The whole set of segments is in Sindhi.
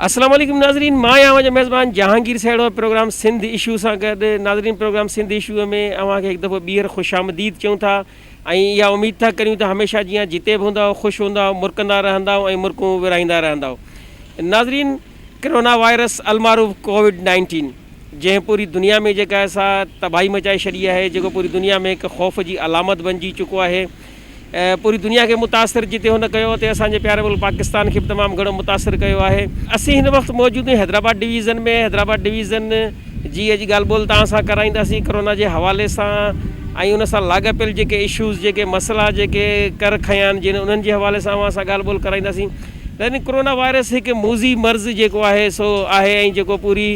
السلام عليڪم ناظرين مان آهيان اوهان جو ميزبان جهانگير سهڙو پروگرام سنڌ اشو سان گڏ ناظرين پروگرام سنڌ اشو ۾ اوهان کي هڪ دفعو ٻيهر خوش آمديد چون ٿا ۽ اها اميد ٿا ڪريون ته هميشه جيئن جتي به هوندا خوش هوندا مرڪندا رهندا ۽ مرڪون ورهائيندا رهندا ناظرين ڪرونا وائرس المعروف ڪووڊ نائنٽين جنهن پوري دنيا ۾ جيڪا سا تباهي مچائي ڇڏي آهي جيڪو پوري دنيا ۾ هڪ خوف جي علامت بنجي چڪو آهي پوري دنيا کي متاثر جتي هن ڪيو اتي اسان جي پياري ملڪ پاڪستان کي به تمام گهڻو متاثر ڪيو آهي اسين هن وقت موجود آهيون حيدرآباد ڊويزن ۾ حيدرآباد ڊويزن جي اڄ ڳالهه ٻولهه توهان سان ڪرائينداسين ڪرونا جي حوالي سان ۽ ان سان لاڳاپيل جيڪي اشوز جيڪي مسئلا جيڪي ڪر کنيا آهن جن انهن جي حوالي سان اوهان سان ڳالهه ٻولهه ڪرائينداسين يعني ڪورونا وائرس هڪ موذي مرض جيڪو آهي سو آهي ۽ جيڪو پوري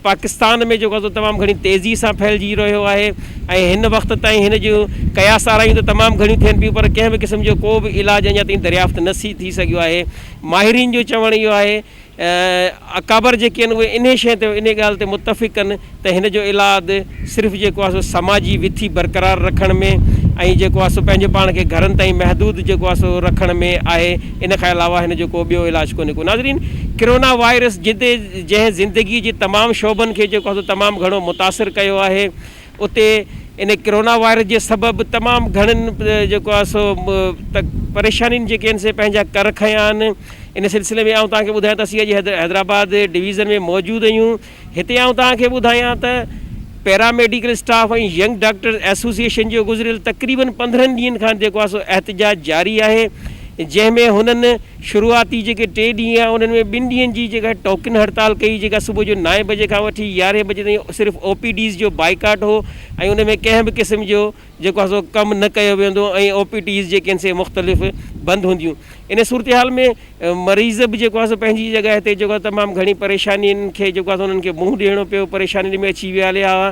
پاڪستان ۾ جيڪو سو تمام گهڻي تيزي سان ڦهلجي رهيو آهي ۽ هن وقت تائين هن جون قياس آرايون ته تمام گهڻيون ٿين پيون پر ڪنهن به قسم جو ڪو به علاج اڃا تائين دريافت نه ٿي سگهيو آهي ماهرين جو چوڻ اهو آهي اڪابر جيڪي آهن اهي انهي شيء تي انهي ڳالهه تي متفق آهن ته هن جو الاد صرف جيڪو آهي سو سماجي وٿي برقرار رکڻ ۾ ۽ جيڪو آهي سو پنهنجي پاڻ کي گهرن تائين محدود جيڪو آهي سو رکڻ ۾ آهي ان کان علاوه هن جو ڪو ٻيو علاج ڪونهي ڪو ناظرين ڪرونا وائرس جتي جنهن زندگي جي تمام شعبن کي جيڪو آهي سو تمام گهڻو متاثر ڪيو آهي اتي ان ڪرونا وائرس جي سبب تمام گهڻن جيڪو آهي سو پريشانين جيڪي آهن سي پنهنجا ڪر کنيا آهن ان سلسلي ۾ آئون توهان کي ٻڌايان ته اسين اڄ حيدرآباد ڊويزن ۾ موجود آهيون هتي آئون توهان کي ٻڌايان ته paramedical staff ۽ young doctors association جو گذريل تقريبن پندرهن ڏينهن کان جيڪو آهي سو احتجاج جاري آهي جنهن ۾ هنن شروعاتي جيڪي ٽي ڏينهن هئا انهن ۾ ٻن ڏينهن جي جيڪا ٽوڪن هڙتال ڪئي جيڪا صبح جو نائين بجي کان وٺي يارهين بجي تائين صرف او پي ڊيز جو بائيڪاٽ هو ۽ ان ۾ ڪنهن به قسم جو جيڪو آهي سو ڪم نه ڪيو ويندو ۽ او پي ڊيز جيڪي آهن سي مختلف بند هونديون ان صورتحال ۾ مريض به جيڪو آهي سو پنهنجي جڳهه تي جيڪو تمام گهڻي پريشانين کي جيڪو آهي سو انهن کي منهن ڏيڻو پيو پريشانين ۾ اچي ويا هليا هئا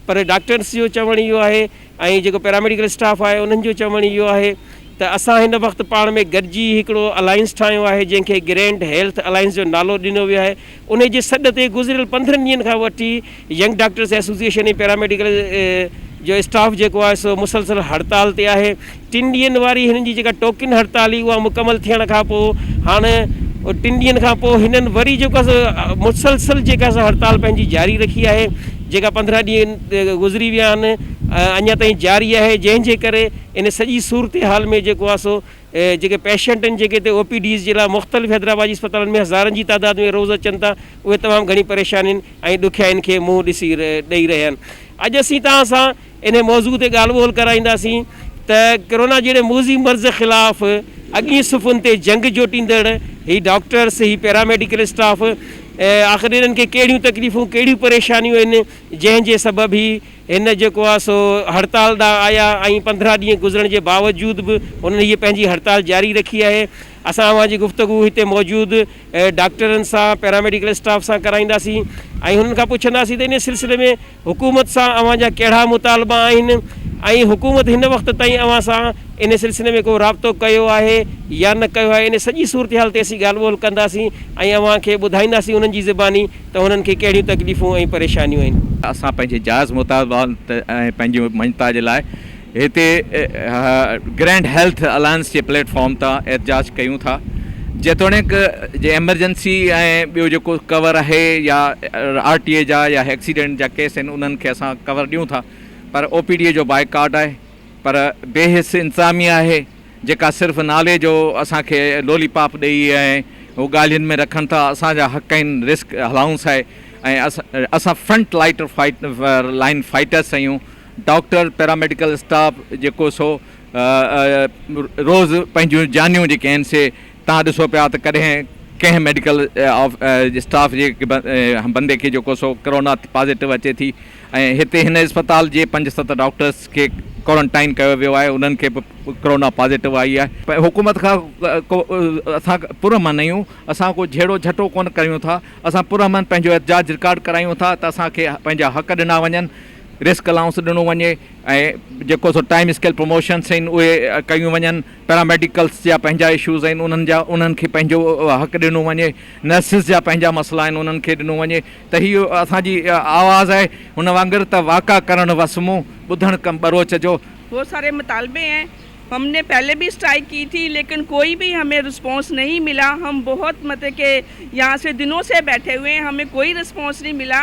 پر ڊاڪٽرس جو چوڻ اهو آهي ۽ جيڪو پيراميڊيڪل اسٽاف آهي انهن جو چوڻ اهو آهي ته اسان هن وقت پاڻ ۾ گڏجي هڪڙو الائنس ٺاهيو آهي جنهن کي گرينڊ هيلٿ الائنس جو نالو ڏنو ويو آهي انهي جي سڏ تي گذريل پندرهن ڏينهن کان وٺي ينگ ڊاڪٽرس ايسوسيئيشن ۽ پيراميڊيڪل جو اسٽاف جيڪو آهي سو مسلسل هڙتال تي آهي. ٽن ڏينهن واري هنن جي جيڪا ٽوڪن هڙتال هئي اها مڪمل ٿيڻ کان پوء هاڻ ٽن ڏينهن کان پوء هنن وري جيڪا سا مسلسل جيڪا سا هڙتال پنهنجي جاري رکي آهي جيڪا پندرهن ڏينهن گذري ويا آهن اڃا تائين جاري آهي جنهن جي ڪري ان سڄي صورتحال ۾ جيڪو آهي سو جيڪي پيشنٽ آهن جيڪي هتي او پي ڊيز جي لاء مختلف حيدرآباد جي اسپتالن ۾ هزارن جي تعداد ۾ روز اچن ٿا اهي تمام گهڻي پريشانين ۽ ڏکيائين کي منهن ڏسي ڏئي رهيا آهن اڄ اسين توهان سان انهي موضوع تي ڳالهه ٻولهه ڪرائينداسين ته ڪرونا جهڙي موذي مرض خلاف اڳين صفن تي جنگ جوٽيندڙ هي ڊاڪٽرس، هي پيراميڊيڪل اسٽاف آخر انهن کي ڪهڙيون تڪليفون ڪهڙيون پريشانيون آهن جنهن جي سبب هي هن جيڪو آهي سو هڙتال ڏانهن آيا ۽ پندرهن ڏينهن گذرڻ جي باوجود به انهن هيء پنهنجي هڙتال جاري رکي آهي. اسان اوهان جي گفتگو هتي موجود ڊاڪٽرن سان، پيراميڊيڪل اسٽاف سان ڪرائينداسين ۽ هنن کان پڇنداسين ته ان سلسلي ۾ حڪومت سان اوهان جا ڪهڙا مطالبا آهن ۽ حڪومت هن وقت تائين اوهان سان ان سلسلي ۾ ڪو رابطو ڪيو آهي يا نه ڪيو آهي، ان سڄي صورتحال تي اسين ڳالهه ٻولهه ڪنداسين ۽ اوهان کي ٻڌائينداسين انهن جي زباني ته هنن کي ڪهڙيون تڪليفون ۽ پريشانيون آهن. اسان پنهنجي جائز مطالبن ۽ پنهنجي مڃتا جي لاء هتي گرينڊ هيلٿ الائنس جي پليٽ فارم تان احتجاج ڪيون ٿا جيتوڻيڪ جي ايمرجنسي ۽ ٻيو جيڪو ڪور آهي يا آر ٽي اي جا يا ايڪسيڊنٽ جا ڪيس آهن انهن کي اسان ڪور ڏيون ٿا پر او پي ڊي اي جو بائيڪاٽ آهي پر بي حس انتظاميه آهي جيڪا صرف نالي جو اسان کي لولي پاپ ڏئي ۽ هو ڳالهين ۾ رکن ٿا اسان جا حق آهن رسڪ الائونس آهي ۽ اسان فرنٽ لائٽر لائن فائٽرس آهيون ڊاڪٽر پيراميڊيڪل اسٽاف جيڪو سو روز پنهنجون جانيون جيڪي آهن سي تان ڏسو پيا ته ڪڏهن ڪنهن ميڊيڪل اسٽاف جي بندي کي جيڪو سو ڪرونا پازيٽو اچي ٿي ۽ هتي هن اسپتال جي پنج ست ڊاڪٽرس کي ڪورنٽائن ڪيو ويو آهي انهن کي به ڪرونا پازيٽو آئي آهي حڪومت کان ڪو اسان پرامن آهيون اسان ڪو جهيڙو جهٽو ڪون ڪريون ٿا اسان پرامن پنهنجو احتجاج رڪارڊ ڪرايون ٿا ته اسان کي پنهنجا حق ڏنا وڃن رسڪ الائونس ڏنو وڃي ۽ جيڪو سو ٽائيم اسڪيل پروموشنس آهن اهي ڪيون وڃن، پيراميڊيڪلس جا پنهنجا اشوز آهن انهن جا انهن کي پنهنجو حق ڏنو وڃي، نرسز جا پنهنجا مسئلا آهن انهن کي ڏنو وڃي ته هي اسان جي آواز آهي هن وانگر ته واڪا ڪرڻ وس مون، ٻڌڻ ڪم ٻروچ جو. بهت ساري مطالبي هين هم ني پهلي بهي اسٽرائيڪ ڪي ٿي ليڪن ڪوئي بهي همي رسپونس نهي ملا هم بهت مطلب ڪي يهان سي دنون سي بيٺي هوئي همي ڪوئي رسپونس نهي ملا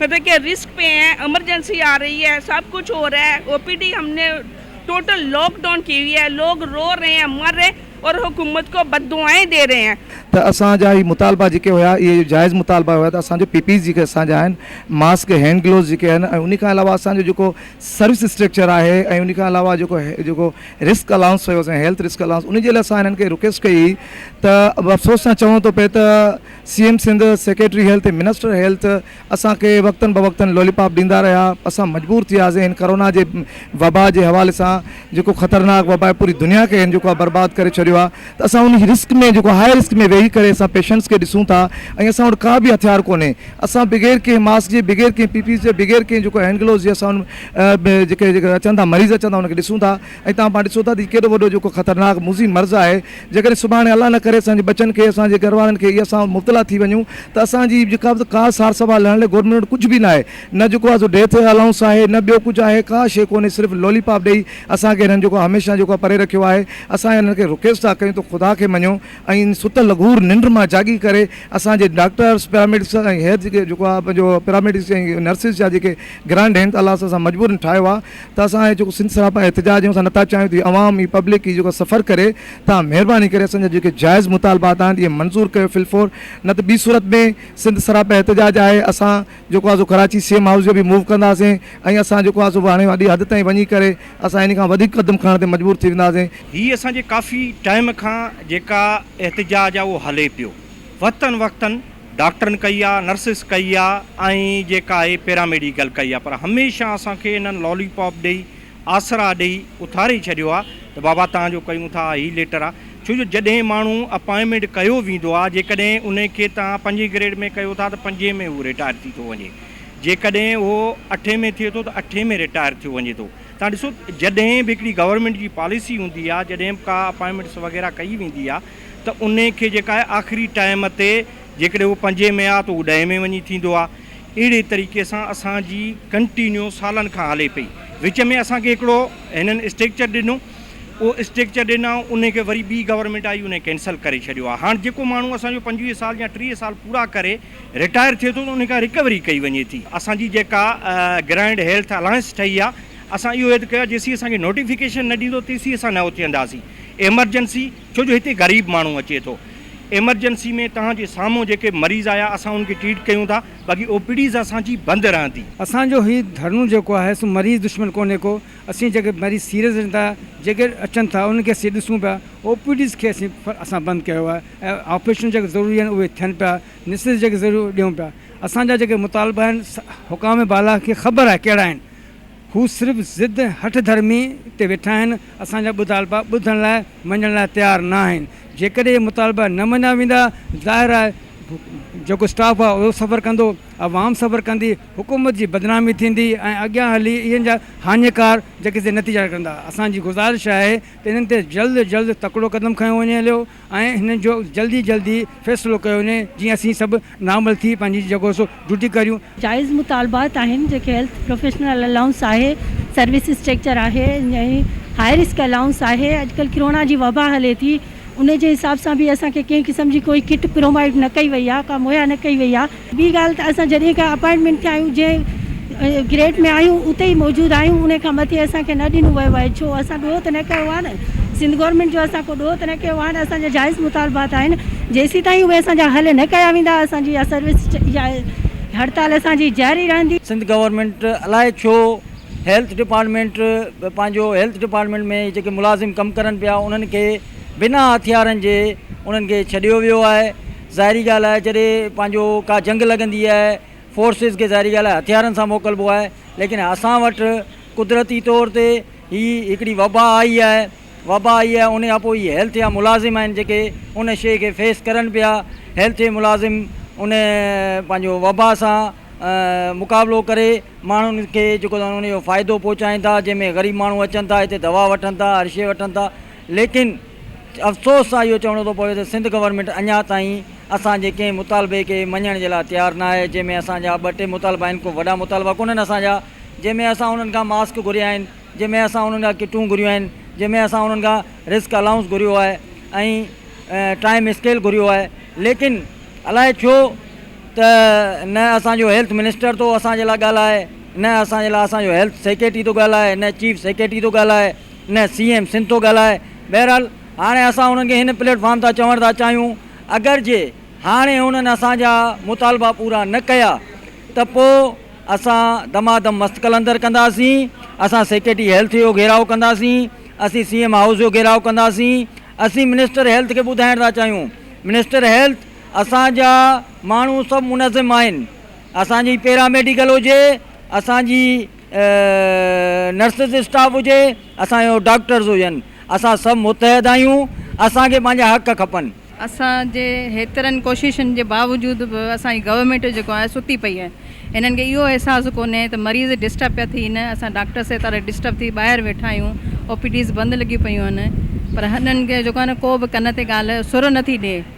مطلب ڪي رسڪ پي هي امرجنسي آ رهي هي سب ڪجھ هو رهي او پي ڊي هم ني ٽوٽل لاڪ ڊائون ڪي هئي هي لوگ رو رهي هي مر رهي اور حڪومت ڪو بد دعائين دي رهي هي. ته اسان جا هي مطالبا جيڪي هيا اهي جائز مطالبا هيا ته اسان جو پي پي ايز جيڪي اسان جا آهن ماسڪ هينڊ گلوز جيڪي آهن ۽ انهي کان علاوه اسان جو جيڪو سروس اسٽريڪچر آهي ۽ انهي کان علاوه جيڪو جيڪو رسڪ الائونس هيو اسان هيلٿ رسڪ الائونس انهي جي لاء اسان هنن کي رڪويسٽ ڪئي هئي ته افسوس سان چوڻو ٿو پئي ته C M Sindh, secretary health, minister health اسان کي وقتن بوقتن لولي پاپ ڏيندا رهيا، اسان مجبور ٿياسين هن ڪرونا جي وبا جي حوالي سان جيڪو خطرناڪ وبا آهي پوري دنيا کي هن جيڪو آهي برباد ڪري ڇڏيو آهي ته اسان ان جي رسڪ ۾ جيڪو هاء رسڪ ۾ ويهي ڪري اسان پيشنٽس کي ڏسون ٿا ۽ اسان وٽ ڪا به هٿيار ڪونهي اسان بغير ڪنهن ماسڪ جي بغير ڪنهن پي پي جي بغير ڪنهن جيڪو هينڊ گلوز جي اسان جيڪي جيڪي اچن ٿا مريض اچن ٿا ان کي ڏسون ٿا. ۽ تان پاڻ ڏسو ٿا ته ڪيڏو وڏو جيڪو خطرناڪ مضي مرض آهي جيڪڏهن سڀاڻي الله نه ڪري اسان جي ٻچن کي اسان جي گهر وارن کي يا اسان مبتلا ٿي وڃون ته اسان جي جيڪا به ڪا سار سنڀال لهڻ لاء گورنمينٽ وٽ ڪجهه به نه آهي نه جيڪو آهي سو ڊيٿ الائونس آهي نه ٻيو ڪجهه آهي ڪا شيء ڪونهي صرف لولي پاپ ڏئي اسان کي هنن جيڪو هميشه جيڪو آهي پري رکيو آهي اسان هنن کي رڪيس ٿا ڪيون ته خدا کي مڃو ۽ ستل لغور ننڊ مان جاڳي ڪري اسان جي ڊاڪٽرس پيراميڊس ۽ هيد جيڪو آهي پنهنجو پيراميڊس ۽ نرسز جا جيڪي گرانڊ هين ته الله سان مجبورن ٺاهيو آهي ته اسان اهي جيڪو سنڌ سراپا احتجاج ۽ اسان نٿا چاهيون ته هي عوام هي پبلڪ هي جيڪو سفر ڪري تان مهرباني ڪري اسان جا جيڪي جائز مطالبات آهن اهي منظور ڪيو في الفور نه ته ٻي صورت ۾ سنڌ سراپا احتجاج آهي اسان جيڪو آهي سو ڪراچي سي ايم هائوس جو به موو ڪنداسين ۽ اسان جيڪو آهي سو هاڻي وڏي حد تائين وڃي ڪري اسان ان کان وڌيڪ قدم کڻڻ تي مجبور ٿي وينداسين. هي اسان جي ڪافي ٽائيم کان جيڪا احتجاج آهي اهو هلي پيو وقتن وقتن. ڊاڪٽرن ڪئي آ، نرسز ڪئي آ ۽ جيڪا اهي پيراميڊيڪل ڪئي آ پر هميشه اسان کي انهن لالي پاپ ڏئي، آسرا ڏئي اٿاري ڇڏيو آ ته بابا توهان جو ڪيون ٿا هي ليٽر آ ڇو جو جڏهن ماڻهو اپائنٽمينٽ ڪيو ويندو آ جيڪڏهن ان کي توهان پنجين گريڊ ۾ ڪيو ٿا ته پنجين ۾ هو رٽائر ٿي ٿو وڃي جيڪڏهن اهو اٺين ۾ ٿئي ٿو ته اٺين ۾ رٽائر ٿيو وڃي ٿو توهان ڏسو جڏهن به هڪڙي گورنمينٽ جي پاليسي هوندي آ جڏهن به ڪا اپائنٽمينٽس وغيره ڪئي ويندي آ ته انهي کي جيڪا آهي آخري ٽائيم تي جيڪڏهن هو پنجين ۾ آ ته هو ڏهين ۾ وڃي ٿيندو آ. اهڙي طريقي سان اسان جي ڪنٽينيو سالن کان هلي پئي. وچ ۾ اسان کي هڪڙو هنن اسٽريڪچر ڏنو. اهو اسٽريڪچر ڏنائون انهي کي وري ٻي گورنمينٽ آئي انهي ڪينسل ڪري ڇڏيو آ. هاڻ جيڪو ماڻهو اسان جو پنجويهه سال يا ٽيهه سال پورا ڪري رٽائر ٿئي ٿو ته انهي کان رڪوري ڪئي وڃي ٿي. اسان جي جيڪا گرانڊ هيلٿ الائنس ٺهي آ اسان اهو عهد ڪيو آ جيسين اسان کي نوٽيفڪيشن نه ڏيندو تيسين اسان نه اٿينداسين. ايمرجنسي. ڇو جو هتي غريب ماڻهو اچي ٿو. ايمرجنسي ۾ توهان جي سامهون جيڪي مريض آيا اسان ان کي ٽريٽ ڪيون ٿا باقي او پي ڊيز اسان جي بند رهندي. اسان جو هي ڌرڻو جيڪو آهي سو مريض دشمن ڪونهي ڪو اسين جيڪي مريض سيريس اچن ٿا جيڪي اچن ٿا انهن کي اسين ڏسون پيا او پي ڊيز کي اسين اسان بند ڪيو آهي ۽ آپريشن جيڪي ضروري آهن اهي ٿين پيا نسيز جيڪي ضروري آهي اهي ڏيون پيا اسان جا جيڪي مطالبا آهن حڪام بالا کي خبر آهي ڪهڙا آهن. هو صرف ضد هٺ ڌرمي تي ويٺا آهن اسان جا ٻڌالبا ٻڌڻ لاء مڃڻ لاء تيار نه آهن جيڪڏهن اهي مطالبا نه مڃيا ويندا ظاهر آهي جيڪو اسٽاف آهي اهو صبر ڪندو عوام صبر ڪندي حڪومت جي بدنامي ٿيندي ۽ اڳيان هلي اهن جا هاڃيڪار جيڪي سي نتيجا نڪرندا اسان جي گذارش آهي ته انهن تي جلد جلد تڪڙو قدم کنيو وڃي هليو ۽ هن جو جلدي جلدي فيصلو ڪيو وڃي جيئن اسين سڀ نارمل ٿي پنهنجي جڳهه سو ڊيوٽي ڪريون. جائز مطالبات آهن جيڪي هيلٿ پروفيشنل الائونس آهي، سروس اسٽريڪچر آهي ۽ هاء رسڪ الائونس آهي، اڄڪلهه ڪرونا جي وبا هلي ٿي ان جي حساب سان به اسان کي ڪنهن قسم جي ڪوئي ڪٽ پرووائيڊ نه ڪئي وئي آهي ڪا مهيا نه ڪئي وئي آهي. ٻي ڳالهه ته اسان جڏهن کان اپائنٽمينٽ تي آهيون جنهن گريڊ ۾ آهيون اتي ئي موجود آهيون ان کان مٿي اسان کي نه ڏنو ويو آهي ڇو اسان ڏوهه ته نه ڪيو آهي نه سنڌ گورنمينٽ جو اسان ڪو ڏوهه ته نه ڪيو آهي نه اسان جا جائز مطالبات آهن جيسيتائين اهي اسان جا حل نه ڪيا ويندا اسان جي اها سروس يا هڙتال اسان جي جاري رهندي. سنڌ گورنمينٽ الاء ڇو هيلٿ ڊپارٽمينٽ پنهنجو هيلٿ ڊپارٽمينٽ ۾ جيڪي ملازم ڪم ڪرن پيا انهن کي بنا هٿيارن جي انهن کي ڇڏيو ويو آهي ظاهري ڳالهه آهي جڏهن پنهنجو ڪا جنگ لڳندي آهي فورسز کي ظاهري ڳالهه آهي هٿيارن سان موڪلبو آهي ليڪن اسان وٽ قدرتي طور تي هي هڪڙي وبا آئي آهي وبا آئي آهي ان کان پوء هي هيلٿ جا ملازم آهن جيڪي ان شيء کي فيس ڪرن پيا هيلٿ جي ملازم ان پنهنجو وبا سان مقابلو ڪري ماڻهن کي جيڪو ان جو فائدو پهچائين ٿا جنهن ۾ غريب ماڻهو اچن ٿا هتي دوا وٺن ٿا هر شيء وٺن ٿا ليڪن افسوس سان اهو چوڻو ٿو پوي ته سنڌ گورنمينٽ اڃا تائين اسان جي ڪنهن مطالبي کي مڃڻ جي لاء تيار ناهي جنهن ۾ اسان جا ٻه ٽي مطالبا آهن ڪو وڏا مطالبا ڪونهن اسان جا جنهن ۾ اسان انهن کان ماسڪ گهريا آهن جنهن ۾ اسان انهن کان ڪٽون گهريون آهن جنهن ۾ اسان انهن کان رسڪ الائونس گهريو آهي ۽ ٽائيم اسڪيل گهريو آهي ليڪن الائي ڇو ته نه اسان جو هيلٿ منسٽر ٿو اسان جي لاء ڳالهائي نه اسان جي لاء اسان جو هيلٿ سيڪريٽري ٿو ڳالهائي نه چيف سيڪريٽري ٿو ڳالهائي نه سي ايم سنڌ ٿو ڳالهائي. بهرحال هاڻي اسان انهن کي هن پليٽ فارم تان چوڻ ٿا چاهيون اگر جي هاڻي انهن اسان جا مطالبا پورا نه ڪيا ته پو اسان دمادم مستقلندر ڪنداسين اسان سيڪريٽري هيلٿ جو گهيراء ڪنداسين اسين سي ايم هائوس جو گهيراء ڪنداسين اسين منسٽر هيلٿ کي ٻڌائڻ ٿا چاهيون منسٽر هيلٿ اسان جا ماڻهو سڀ منظم آهن اسان جي پيرا ميڊيڪل هجي اسان جي نرسز اسٽاف هجي اسان جو ڊاڪٽرز هجن اسان سڀ متحد آهيون اسان کي پنهنجا حق کپن. اسان جي هيترن ڪوششن جي باوجود به اسان جي گورنمينٽ جيڪو آهي ستي پئي آهي هنن کي اهو احساس ڪونهي ته مريض ڊسٽرب پيا ٿين اسان ڊاڪٽر سيتارا ڊسٽرب ٿي ٻاهر ويٺا آهيون او پي ڊيز بند لڳيون پيون آهن پر هنن کي جيڪو آهي نه ڪو به ڪن تي ڳالهه سر نٿي ڏي.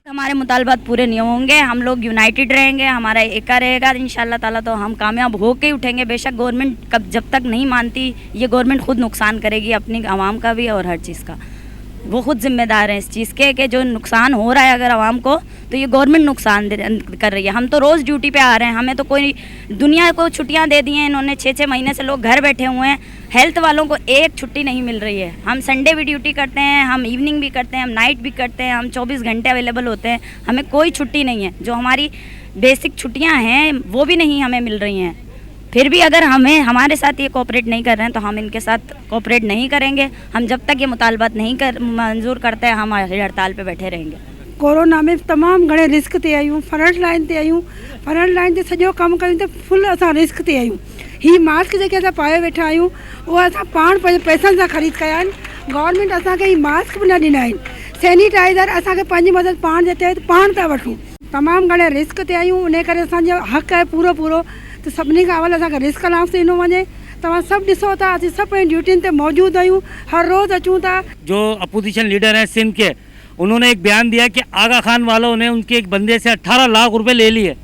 تمھاري مطالبات پوري نھين ھونگ گي ھم لوگ يونائيٽيڊ رھين گي ھمارا ايڪا رھي گا ان شاء الله تعالي تو ھم ڪامياب ھو ڪي اٺين گي بيشڪ گورنمنٽ کب جب تڪ نھين مانتي يي گورنمنٽ خود نقصان ڪري گي اپني عوام ڪا بي اور ھر چيز ڪا وو خود ذمه دار ھين اس چيز ڪي ڪي جو نقصان ھو رھا ھي اگر عوام ڪو تو يي گورنمنٽ نقصان ڪر رھي ھي ھم تو روز ڊيوٽي پي آ رھي ھين ھمين تو ڪوئي دنيا ڪو چھٽيان دي دي ھين انھوني ڇھ ڇھ مھيني سي لوگ گھر بيٺي ھئي هيلٿ والون ڪو ايڪ ڇٽي نهين مل رهي هي هم سنڊي به ڊيوٽي ڪرتي هين هم ايوننگ به ڪرتي هين هم نائيٽ به ڪرتي هين هم چوبيس گهنٽي اويليبل هوتي هين همي ڪوئي ڇٽي نهين هين جو هماري بيسڪ ڇٽيان هين وو به نهين همي مل رهي هين ڦر به اگر همي هماري ساٿ هي ڪوپريٽ نهين ڪر رهي هين تو هم انڪي ساٿ ڪوپريٽ نهين ڪرين گي هم جب تڪ هي مطالبات نهين ڪر منظور ڪرتي هم هي هڙتال پي بيٺي رهين گي. ڪورونا ۾ تمام گهڻي رسڪ تي آهيون فرنٽ لائين تي آهيون فرنٽ لائين تي سڄو ڪم ڪريون ته فل اسان رسڪ تي آهيون. هي ماسڪ جيڪي اسان پايو ويٺا آهيون اهي اسان پاڻ پنهنجي پئسن سان خريد ڪيا آهن گورنمينٽ اسان کي هي ماسڪ به نه ڏنا آهن سينيٽائيزر اسان کي پنهنجي مدد پاڻ جي تحت پاڻ پيا وٺون تمام گهڻي رسڪ تي آهيون انهي ڪري اسان جو حق آهي پورو پورو ته سڀني کان اول اسان کي رسڪ الائونس ڏنو وڃي توهان سڀ ڏسو ٿا اسين سڀ پنهنجي ڊيوٽين تي موجود آهيون هر روز اچون ٿا. جو اپوزيشن ليڊر هين سنڌ ڪي انهون ني ايڪ بيان ديا هي ڪي آغا خان والو ني ان ڪي ايڪ بندي سي اٺارهه لاک روپي لي ليئي.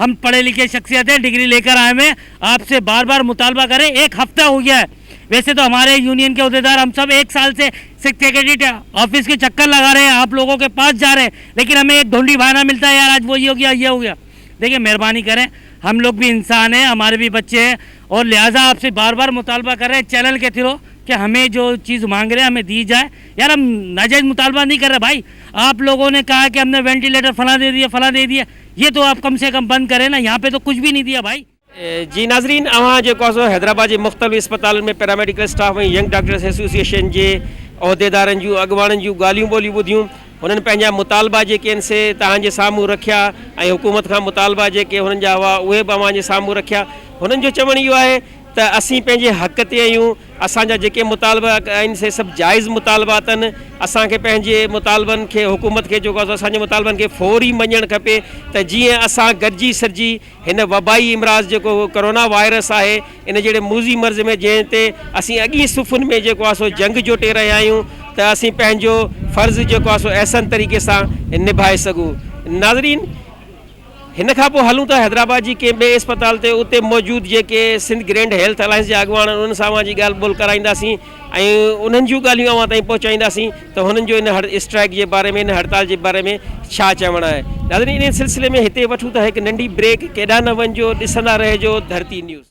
ھم پڙھي لکي شخصيت ھي ڊگري لي ڪر آئي مي آپ سي بار بار مطالبا ڪري ايڪ ھفته ھو گيا ھي ويسي تو ھماري يونين ڪي عھديدار ھم سب ايڪ سال سي سک سيڪريٽريٽ آفس ڪي چڪر لگا رھي ھي آپ لوگو ڪي پاس جا رھي ھي ليڪن ھمي ايڪ ڍونڊي بھانا ملتا ھي يار آج وو ھي ھو گيا ھي ھو گيا ديکي مھرباني ڪري ھم لوگ بي انسان ھي ھماري بي بچي ھي اور لھذا آپ سي بار بار مطالبا ڪر رھي ھي چينل ڪي تھرو ڪي ھمي جو چيز مانگ رھي ھي ھمي دي جائي يار ھم ناجائز مطالبا نھي ڪر رھي ھي بھائي آپ لوگو ني ڪھا ھي ڪي ھم ني وينٽيليٽر فلان دي ديئي فلان دي ديئي يي تو اپ ڪم سي ڪم بند ڪري نا يھان پي تو ڪچھ بي نھي ديا ڀائي. جي ناظرين اوھان جيڪو آھي سو حيدرآباد جي مختلف اسپتالن ۾ paramedical staff ۽ young doctors association جي عھديدارن جون اڳواڻن جون ڳالھيون ٻولھيون ٻڌيون ھنن پنھنجا مطالبا جيڪي آھن سي توھان جي سامھون رکيا ۽ حڪومت کان مطالبا جيڪي ھنن جا ھئا اھي به اوھان جي سامھون رکيا ھنن جو چوڻ اھو آھي ته اسين پنھنجي حق تي آھيون. اسان جا جيڪي مطالبا آهن سي سڀ جائز مطالبا اٿن، اسان کي پنهنجي مطالبن کي حڪومت کي جيڪو اسان جي مطالبن کي فوري مڃڻ کپي ته جيئن اسان گڏجي سڏجي هن وبائي امراض جيڪو ڪورونا وائرس آهي ان جهڙي موذي مرض ۾ جنهن تي اسين اڳين صفن ۾ جيڪو آهي سو جنگ جوٽي رهيا آهيون ته اسين پنهنجو فرض جيڪو آهي سو احسن طريقي سان نڀائي سگهون ناظرين هن کان پوء هلون ٿا حيدرآباد جي ڪنهن ٻئي اسپتال تي اتي موجود جيڪي سنڌ گرينڊ هيلٿ الائنس جا اڳواڻ آهن انهن سان اوهان جي ڳالهه ٻولهه ڪرائينداسين ۽ انهن جون ڳالهيون اوهان تائين پهچائينداسين ته هنن جو ان اسٽرائيڪ جي باري ۾ ان هڙتال جي باري ۾ ڇا چوڻ آهي ناظرين انهي سلسلي ۾ هتي وٺون ٿا هڪ ننڍي بريڪ ڪيڏانهن نه وڃجو ڏسندا رهجو ڌرتي نيوز.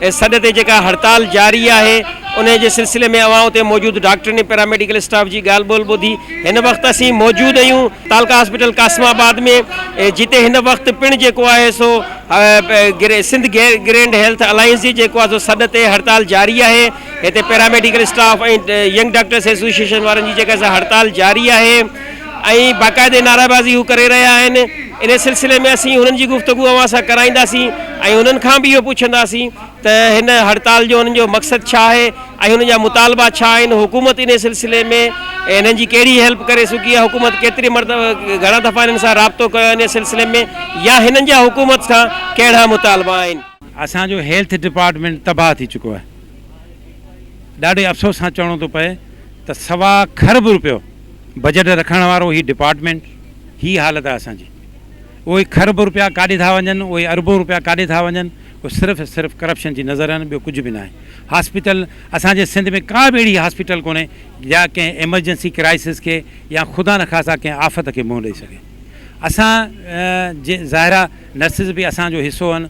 اي سڏ تي جيڪا هڙتال جاري آهي انهي جي سلسلي ۾ اوهان اتي موجود ڊاڪٽرن ۽ پيراميڊيڪل اسٽاف جي ڳالهه ٻولهه ٻڌي هن وقت اسين موجود اهيون تعلقه هاسپيٽل قاسم آباد ۾ جتي هن وقت پڻ جيڪو آهي سو سنڌ گرينڊ هيلٿ الائنس جي جيڪو آهي سو سڏ تي هڙتال جاري آهي هتي paramedical staff ۽ young doctors association وارن جي جيڪا سا هڙتال جاري آهي ۽ باقاعدي نعريبازي هو ڪري رهيا آهن ان سلسلي ۾ اسين هنن جي گفتگو اوهان سان ڪرائينداسين ۽ هنن کان به اهو پڇنداسين ته هن هڙتال جو هنن جو مقصد ڇا آهي ۽ هنن جا مطالبا ڇا آهن حڪومت ان سلسلي ۾ هنن جي ڪهڙي هيلپ ڪري سگهي آهي حڪومت ڪيتري مرتبه گهڻا دفعا هنن سان رابطو ڪيو آهي ان سلسلي ۾ يا هنن جا حڪومت سان ڪهڙا مطالبا آهن. اسان جو هيلٿ ڊپارٽمينٽ تباهه ٿي چڪو آهي ڏاڍي افسوس سان چوڻو ٿو پئي ته سوا کرب روپيو بجيٽ رکڻ وارو هي ڊپارٽمينٽ هي حالت آهي اسان جي اهي کرب روپيا ڪاڏي ٿا وڃن اهي اربون روپيا ڪاڏي ٿا وڃن اهي صرف صرف ڪرپشن جي نظر آهن ٻيو ڪجهه به ناهي هاسپيٽل اسان جي سنڌ ۾ ڪا به اهڙي هاسپيٽل ڪونهي جا ڪنهن ايمرجنسي ڪرائسس کي يا خدا نخواسته ڪنهن آفت کي منهن ڏئي سگهي اسان جي ظاهرا نرسز به اسان جو حصو آهن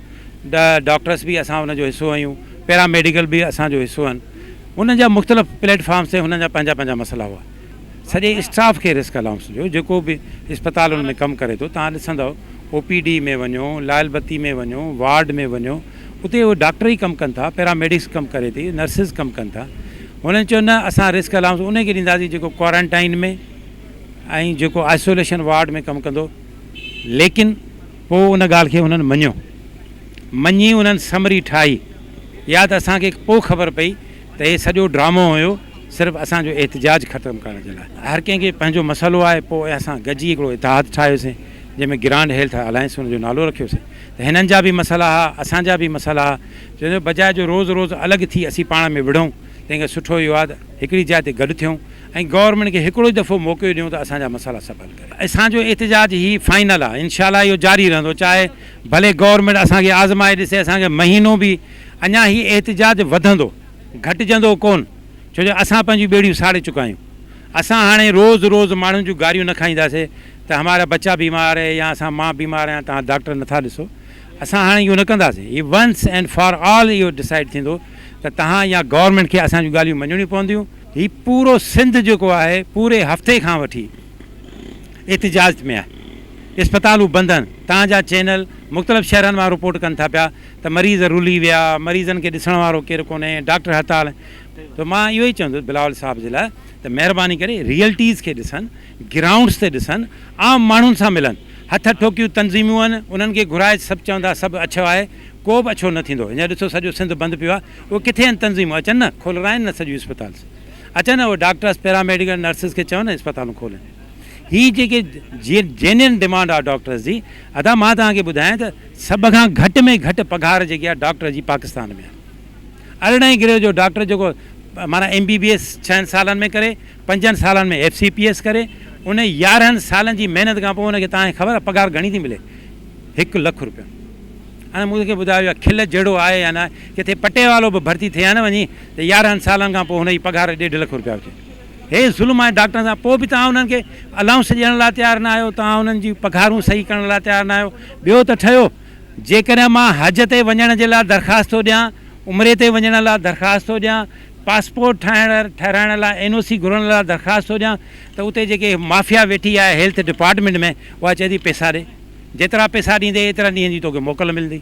ڊاڪٽرس به اسان ان جو حصو آهيون پيرا ميڊيڪل به اسان جو حصو آهن انهن جا مختلف پليٽ فارمز تي هنن جا پنهنجا پنهنجا مسئلا هئا. سڄي اسٽاف کي رسڪ الائونس ڏيو، جيڪو به اسپتالن ۾ ڪم ڪري ٿو، توهان ڏسندؤ او پي ڊي ۾ وڃو، لائل بتي ۾ وڃو، وارڊ ۾ وڃو، اتي اهي ڊاڪٽر ئي ڪم ڪن ٿا، پيراميڊڪس ڪم ڪري ٿي، نرسز ڪم ڪن ٿا. هنن چيو نه اسان رسڪ الائونس انهي کي ڏينداسين جيڪو ڪوارنٽائن ۾ ۽ جيڪو آئسوليشن وارڊ ۾ ڪم ڪندو، ليڪن. پوء ان ڳالهه کي هنن مڃيو. مڃي انهن سمري ٺاهي. يا ته اسان کي پوء خبر پئي ته هي سڄو ڊرامو هيو صرف اسان جو احتجاج ختم ڪرڻ جي لاء. هر ڪنهن کي پنهنجو مسئلو آهي پوء اسان گڏجي هڪڙو اتحاد ٺاهيوسين جنهن ۾ گرانڊ هيلٿ الائنس ان جو نالو رکيوسين ته هنن جا به مسئلا ها اسان جا به مسئلا ها چوندو بجاء جو روز روز الڳ ٿي اسين پاڻ ۾ وڙهون تنهن کان سٺو اهو آهي ته هڪڙي جاء تي گڏ ٿيون ۽ گورنمينٽ کي هڪڙو ئي دفعو موقعو ڏيون ته اسان جا مسئلا سڀ حل ڪري. اسان جو احتجاج هي فائنل آ انشاء الله اهو جاري رهندو چاهي ڀلي گورنمينٽ اسان کي آزمائي ڏسي اسان کي مهينو به اڃا هي احتجاج وڌندو گهٽجندو ڪون ڇو جو اسان پنهنجون ٻيڙيون ساڙي چڪا آهيون اسان هاڻي روز روز ماڻهن جون گاريون نه کائينداسي ته همارا بچا بيمار هي يا اسان مان بيمار آهيان توهان ڊاڪٽر نٿا ڏسو اسان هاڻي اهو نه ڪنداسي هي ونس اينڊ فار آل اهو ڊسائيڊ ٿيندو ته توهان يا گورنمينٽ کي اسان جون ڳالهيون مڃڻيون پونديون هي پورو سنڌ جيڪو آهي پوري هفتي کان وٺي احتجاج ۾ آهي اسپتالون بند آهن تهان جا چينل مختلف شهرن مان رپورٽ ڪن ٿا پيا ته مريض رلي ويا مريضن کي ڏسڻ وارو ڪير ڪونهي ڊاڪٽر هڙتال ته مان اهو ئي چوندس بلاول صاحب جي لاء ته مهرباني ڪري ريئلٽيز کي ڏسن گرائونڊس تي ڏسن عام ماڻهن سان ملن هٿ ٺوڪيون تنظيمون آهن انهن کي گهرائي سڀ چوندا سڀ اڇو آهي ڪو به اڇو نه ٿيندو هينئر ڏسو سڄو سنڌ بند پيو آهي اهي ڪٿي آهن تنظيمون اچن نه کولرائين نه سڄيون اسپتالس اچن اهي ڊاڪٽرس پيراميڊيڪل نرسز کي چون نه اسپتالون کولن هي جيڪي جينين ڊمانڊ آهي ڊاڪٽرس جي ادا مان توهان کي ٻڌايان ته سڀ کان گهٽ ۾ گهٽ پگهار جيڪي آهي ڊاڪٽر جي پاڪستان ۾ آهي ارڙهين گريڊ جو ڊاڪٽر جيڪو معنيٰ ايم بي بي ايس ڇهن سالن ۾ ڪري پنجن سالن ۾ ايف سي پي ايس ڪري ان يارهن سالن جي محنت کان پوء ان کي توهان کي خبر آهي پگهار گهڻي ٿي ملي هڪ لک روپيا ۽ مون کي ٻڌايو اها کل جهڙو آهي يا ناهي ڪٿي پٽي والو به ڀرتي ٿئي ها نه وڃي ته يارهن سالن کان پوء هن جي پگهار ڏيڍ لک روپيا هجي هي ظلم آهي ڊاڪٽرن سان پوء به توهان انهن کي الائونس ڏيڻ لاء تيار نه آهيو توهان انهن جون پگهارون صحيح ڪرڻ لاء تيار نه آهيو ٻيو ته ٺهيو جيڪڏهن مان حج تي وڃڻ جي لاء درخواست ٿو ڏيان عمري تي وڃڻ لاء درخواست ٿو ڏيان پاسپورٽ ٺاهڻ ٺهرائڻ لاء اين او سي گهرڻ لاء درخواست ٿو ڏيان ته اتي جيڪي مافيا ويٺي آهي هيلٿ ڊپارٽمينٽ ۾ اها چئي ٿي پيسا ڏي جيترا پيسا ڏيندي ايترا ڏينهن جي توکي موڪل ملندي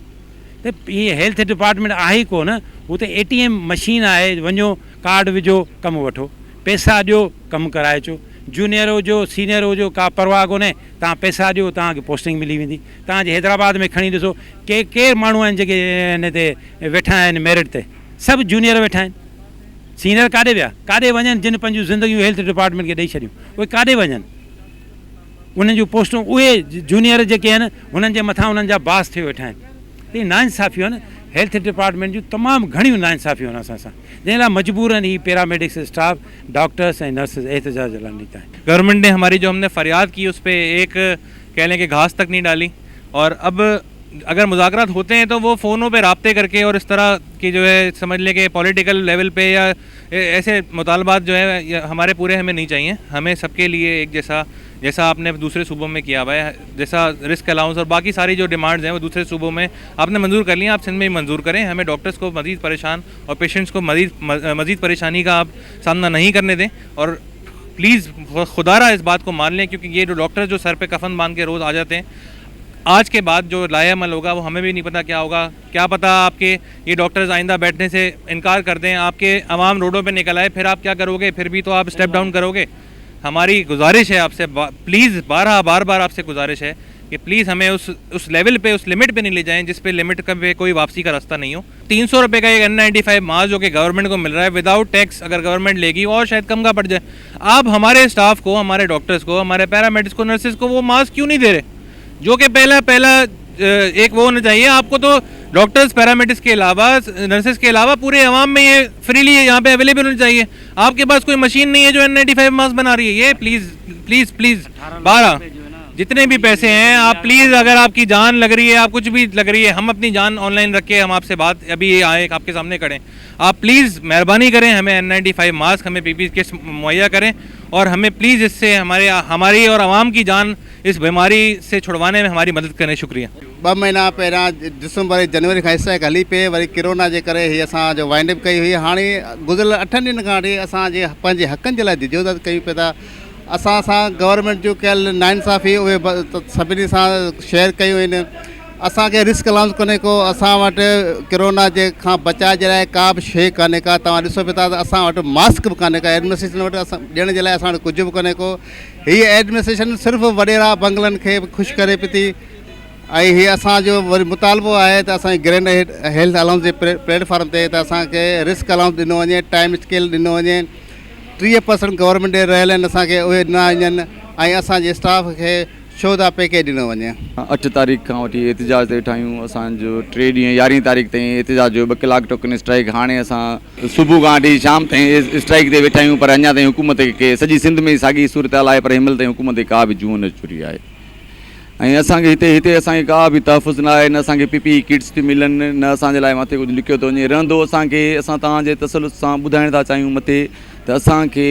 ته هي هيلٿ ڊپارٽمينٽ آهي ئي ڪونه هو ته اي ٽي ايم مشين آهي وڃو ڪارڊ وجهو ڪم وٺو پيسا ڏيو ڪم ڪرائي اچو جونيئر هجو سينيئر هجو ڪا پرواهه ڪونه توهان پيسا ڏيو توهان کي پوسٽنگ ملي ويندي توهان جي حيدرآباد ۾ کڻي ڏسو ڪي ڪير ماڻهو آهن جيڪي هن تي ويٺا آهن ميرٽ تي سڀ جونيئر ويٺا آهن سينيئر ڪاڏي ويا ڪاڏي وڃن جن پنهنجون زندگيون هيلٿ ڊپارٽمينٽ کي ڏئي ڇڏيون اهي ڪاڏي وڃن. انهن جون پوسٽون اهي جونيئر جيڪي آهن انهن جي مٿان انهن جا باس ٿيو ويٺا آهن هي ناانصافيون آهن هيلٿ ڊپارٽمينٽ جون تمام گهڻيون ناانصافيون آهن اسان سان جنهن لاء مجبورن هي پيراميڊڪس اسٽاف ڊاڪٽرس ۽ نرسز احتجاج لاء نڪتا آهن. گورنمنٽ ني هماري جو هم ني فرياد ڪي اس پي ايڪ ڪهه لين ڪي گهاس تڪ نهي ڊالي اور اب اگر مذاڪرات هوتي هين تو وو فونو پي رابطي ڪرڪي اور اس طرح ڪي جو هي سمجھ لين ڪي پوليٽيڪل ليول پي يا ايسي مطالبات جو هي هماري پوري هي مين نهين چاهيئي همين سب ڪي ليئي ايڪ جيسا جيسا آپ ني دوسري صوبو مين ڪيا هوا هي جيسا رسڪ الاونس اور باقي ساري جو ڊيمانڊز هي وو دوسري صوبو مين آپ ني منظور ڪر ليئي آپ سنڌ مين بهي منظور ڪرين همين ڊاڪٽرز ڪو مزيد پريشان اور پيشنٽس ڪو مريض مزيد پريشاني ڪا آپ سامنا نهين ڪرني دين اور پليز خدا را اس بات ڪو مان ليئي ڪيونڪه يي جو ڊاڪٽرز جو سر پي ڪفن باند ڪي روز آجاتي هين آج ڪي بعد جو لاهيعمل هوگا وو همين بهي نهين پتا ڪيا هوگا ڪيا پتا آپ ڪي يي ڊاڪٽرز آئنده بيٺني سي انڪار ڪر دين آپ ڪي عوام روڊون پي نڪل آئي پھر آپ ڪيا ڪرو گي پھر بي تو آپ اسٽيپ ڊائون ڪرو گي ھماري گذارش ھي آپ سي پليز بارھا بار بار آپ سي گذارش ھي ڪي پليز ھمين اس اس ليول پي اس لميٽ پي ني لي جائين جس پي لميٽ ڪم پي ڪوئي واپسي ڪا رستا نھي ھو تين سو روپي ڪا يي اين نائنٽي فائيو ماس جو ڪي گورنمنٽ ڪو مل رھا ھي وداؤٽ ٽيڪس اگر گورنمنٽ لي گي اور شايد ڪم ڪا پٽ جائي آپ ھماري اسٽاف ڪو ھماري ڊاڪٽرز ڪو ھماري پيرا ميڊس ڪو نرسز ڪو وو ماس ڪيون نھي دي رھي جو ڪي پيلا پيلا ايڪ وو نه چاهيي آپ ڪو تو ڊاڪٽرز پيراميڊز ڪي علاوه نرسز ڪي علاوه پوري عوام ۾ هي فريلي يهان پي اويليبل هوني چاهيي آپ ڪي پاس ڪوئي مشين نهي هي جو اين نائنٽي فائيو ماسڪ بنا رهي هي پليز پليز پليز بارا جتني بي پيسي هي آپ پليز اگر آپ ڪي جان لگ رهي هي آپ ڪچ بي لگ رهي هي هم اپني جان آن لائن رک ڪي هم آپ سي بات ابي هي آئي آپ ڪي سامني کڙي آپ پليز مهرباني ڪري همي اين نائنٽي فائيو ماسڪ همي پي پي ڪيٽس مهيا ڪري اور همي پليز اس سي هماري هماري اور عوام ڪي جان اس بيماري سي ڇڙوانے مين ھماري مدد ڪرڻي شڪريه. ٻه مھينا پهريان ڊسمبر ۽ جنوري کان اسٽرائيڪ هلي پئي وري ڪرونا جي ڪري هي اسان جو وائنڊ اپ ڪئي هئي هاڻي گذريل اٺن ڏينهن کان وٺي اسان جي پنهنجي حقن جي لاء جدوجھد ڪيون پئي ٿا اسان سان گورنمينٽ جون ڪيل ناانصافي اهي سڀني سان شيئر ڪيون آهن اسان کي رسڪ الاونس ڪونهي ڪو اسان وٽ ڪرونا جي کان بچاء جي لاء ڪا به شيء ڪانهي ڪا توهان ڏسو پئي ٿا ته اسان وٽ ماسڪ به ڪانهي ڪا ايڊمنسٽريشن وٽ اسان ڏيڻ جي لاء اسان وٽ ڪجهه به ڪونهي ڪو هيء ايڊمنسٽريشن صرف وڏيرا بنگلن کي خوش ڪري پئي ٿي ۽ هي اسان جو وري مطالبو آهي ته اسان جي گرينڊ هيلٿ الائونس جي پليٽ فارم تي ته اسان کي رسڪ الائونس ڏنو وڃي ٽائيم اسڪيل ڏنو وڃي ٽيهه پرسنٽ گورنمينٽ ڏي رهيل آهن اسان کي اهي ڏنا وڃن ۽ اسان جي اسٽاف کي شهدا پيڪيج ڏنو وڃي. اٺ تاريخ کان وٺي احتجاج تي ويٺا آهيون اسان جو ٽي ڏينهن يارهين تاريخ تائين احتجاج جو ٻه ڪلاڪ ٽوڪن اسٽرائيڪ هاڻي اسان صبح کان وٺي شام تائين اسٽرائيڪ تي ويٺا آهيون پر اڃا تائين حڪومت کي سڄي سنڌ ۾ ساڳي صورتحال آهي پر هن مهل تائين حڪومت کي ڪا به جون نه چري آهي ۽ اسان کي هتي هتي اسان کي ڪا به تحفظ نه آهي نه اسان کي پي پي اي ڪٽس ٿي ملن نه اسان جي لاء مٿي ڪجهه لکيو ٿو وڃي رهندو اسان کي اسان توهان جي تسلط سان ٻڌائڻ ٿا چاهيون مٿي ته اسان کي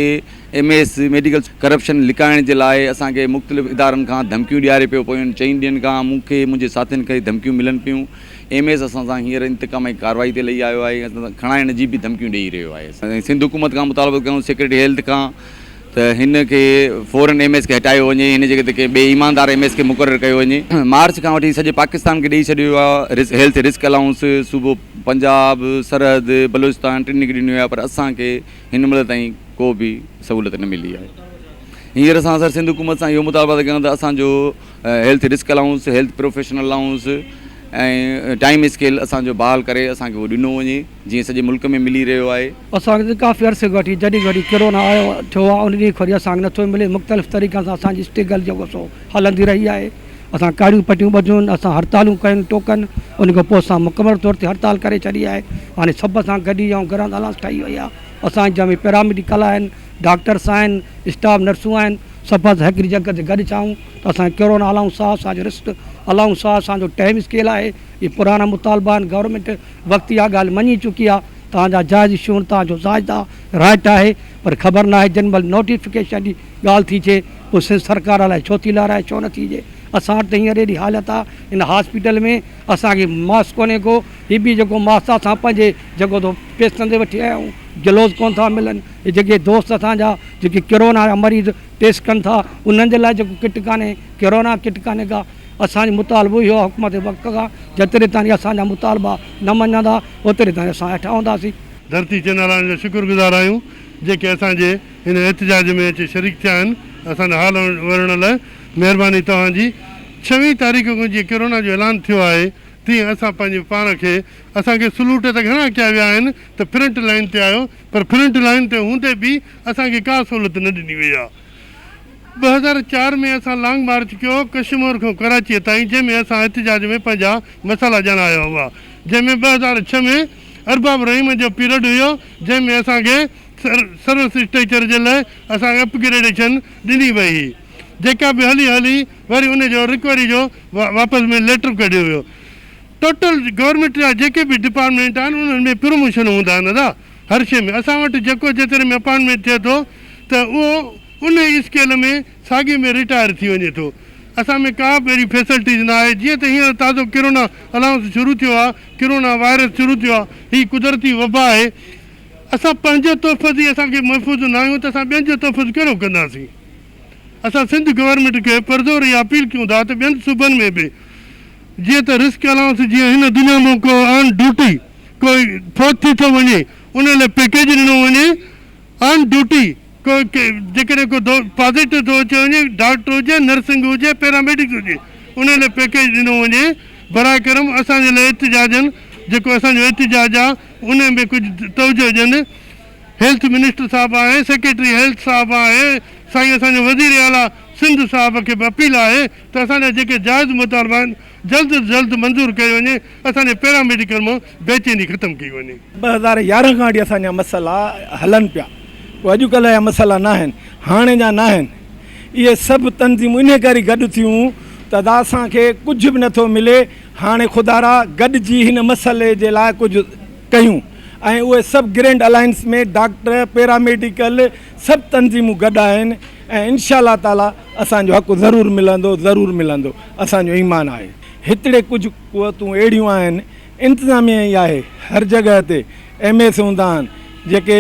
ايم ايس ميڊيڪل ڪرپشن لڪائڻ جي لاء اسان کي مختلف ادارن کان ڌمڪيون ڏياري پيو پيون چئن ڏينهن کان مون کي منهنجي ساٿين کي ڌمڪيون ملن پيون ايم ايس اسان سان هينئر انتقامي ڪارروائي تي لهي آيو آهي ۽ اسان سان کڻائڻ جي به ڌمڪيون ڏيئي رهيو آهي. اسين سنڌ حڪومت کان مطالبو ڪيون سيڪريٽري هيلٿ کان ته هن کي فورن ايم ايس کي هٽايو وڃي هن جي جڳهه تي ڪنهن ٻئي ايماندار ايم ايس کي مقرر ڪيو وڃي. مارچ کان وٺي سڄي پاڪستان کي ڏيئي ڇڏيو ويو آهي هيلٿ رسڪ الائونس صوبو پنجاب، سرحد، بلوچستان ٽنهي کي ڏنو ويو آهي پر اسان کي هن مهل تائين ڪو به سهولت نه ملي آهي. هينئر اسان سر سنڌ حڪومت سان اهو مطالبا ٿا ڪيون ته اسان جو health risk allowance, health profession allowance ۽ time scale اسان جو بحال ڪري اسان کي اهو ڏنو وڃي جيئن سڄي ملڪ ۾ ملي رهيو آهي. اسان کي ڪافي عرصي کان وٺي جڏهن کان وٺي ڪرونا آيو ٿيو آهي ان ڏينهن کان وٺي اسان کي نٿو ملي مختلف طريقن سان اسان جي اسٽرگل جيڪو سو هلندي رهي آهي اسان ڪاڙيون پٽيون ٻڌيون اسان هڙتالون ڪيون ٽوڪن ان کان پوء اسان مڪمل طور تي هڙتال ڪري ڇڏي آهي هاڻي سڀ سان گڏجي آئون گرانت الائونس ٺهي وئي آهي اسان جا پيراميڊڪل آهن ڊاڪٽرس آهن، اسٽاف نرسون آهن، سڀ اسان هڪڙي جڳھ تي گڏ ڇانون ته اسان کي ڪهڙو نه الاؤنس آهي، اسان جو رسٽ الاؤنس آهي، اسان جو ٽائيم اسڪيل آهي، اهي پراڻا مطالبا آهن، گورنمينٽ وقت اها ڳالھ مڃي چڪي آهي، توهان جا جائز شون توهان جو زائد آهي، رائيٽ آهي، پر خبر ناهي جنھن مھل نوٽيفڪيشن جي ڳالھ ٿي ٿئي پوء سنڌ سرڪار الائي ڇو ٿي لارائي ڇو نه ٿي ڏئي، اسان وٽ ته هينئر اهڙي حالت آهي ان هاسپيٽل ۾ اسان کي ماس ڪونهي ڪو، هي به جيڪو ماس آهي اسان پنهنجي جيڪو ٿو پيسن تي وٺي آيا آهيون گلوز ڪونھ ٿا ملن، هي جيڪي دوست اسان جا جيڪي ڪرونا جا مريض ٽيسٽ ڪن ٿا انهن جي لاء جيڪو ڪٽ ڪانهي ڪرونا ڪٽ ڪانهي ڪا اسان جو مطالبو اهو آهي حڪومت وقت کان جيتري تائين اسان جا مطالبا نه مڃندا اوتري تائين اسان هيٺ آهنداسين. ڌرتي چيناراڻي جا شڪر گذار آهيون جيڪي اسان جي هن احتجاج ۾ اچي شريڪ ٿيا آهن اسان جو حال ورڻ لاء مهرباني توهان جي ڇوين تاريخ کان جيئن ڪرونا جو اعلان ٿيو آهي تيئن اسان پنهنجي پاڻ کي اسان کي سلوٽ ته گهڻا ڪيا ويا آهن ته فرنٽ لائين تي آيو پر فرنٽ لائين تي هوندي به اسان کي ڪا سهولت نه ڏني وئي آهي. ٻه هزار چار ۾ اسان لانگ مارچ ڪيو ڪشمور کان ڪراچيء تائين جنهن ۾ اسان احتجاج ۾ پنهنجا مسئلا ڄاڻايا هئا جنهن ۾ ٻه هزار ڇهه ۾ ارباب رحيم جو پيرڊ هيو جنهن ۾ اسان کي سروس اسٽريچر جي لاء اسان کي اپ گريڊيشن ڏني وئي هئي جيڪا به هلي هلي وري ان جو رڪوري جو واپس ۾ ليٽر ڪڍيو ويو. ٽوٽل گورنمينٽ جا جيڪي به ڊپارٽمينٽ آهن انهن ۾ پروموشن هوندا آهن ادا هر شي ۾ اسان وٽ جيڪو جيتري ۾ اپائنٽمينٽ ٿئي ٿو ته اهو انهي اسڪيل ۾ ساڳي ۾ رٽائر ٿي وڃي ٿو اسان ۾ ڪا به اهڙي فيسلٽيز نه آهي جيئن ته هينئر تازو ڪرونا الائونس شروع ٿيو آهي ڪرونا وائرس شروع ٿيو آهي هي قدرتي وبا آهي اسان پنهنجو تحفظ ئي اسان کي محفوظ نه آهيون ته اسان ٻين جو تحفظ ڪهڙو ڪنداسين اسان سنڌ گورنمينٽ کي پرزور اها اپيل ڪيون ٿا ته ٻين صوبن ۾ به جيئن ته رسڪ الائونس جيئن هن دنيا مان ڪو آن ڊيوٽي ڪو فوت ٿي ٿو وڃي ان لاء پيڪيج ڏنو وڃي آن ڊيوٽي ڪو جيڪڏهن ڪو پازيٽو ٿو اچي وڃي ڊاڪٽر هجي نرسنگ هجي پيراميڊڪس هجي ان لاء پيڪيج ڏنو وڃي براء ڪرم اسان جي لاء احتجاجن جيڪو اسان جو احتجاج آهي ان ۾ ڪجهه توجهه ڏين. هيلٿ منسٽر صاحب ۽ سيڪريٽري هيلٿ صاحب ۽ سائين اسان جي وزير اعليٰ سنڌ صاحب کي به اپيل آهي ته اسان جا جيڪي جائز مطالبا آهن جلد از جلد منظور ڪيو وڃي اسان جي پيراميڊيڪل مان بي چيني ختم ڪئي وڃي. ٻه هزار يارهن کان وٺي اسان جا مسئلا هلن پيا ڪو اڄ ڪلهه جا مسئلا ناهن هاڻي جا ناهن اهي سڀ تنظيمون انهي ڪري گڏ ٿيون ته ادا اسان کي ڪجهه به نٿو ملي هاڻي خدارا گڏجي هن مسئلي جي لاء ڪجهه ڪيون ۽ اهي سڀ گرينڊ الائنس ۾ ڊاڪٽر، پيراميڊيڪل سڀ تنظيمون گڏ آهن ۽ انشاء الله تعاليٰ اسان جو حق ضرور ملندو ضرور ملندو اسان جو ايمان آهي. هتڙي ڪجهه قوتون اهڙيون آهن انتظاميه ئي آهي هر جڳهه تي ايم ايس هوندا آهن جيڪي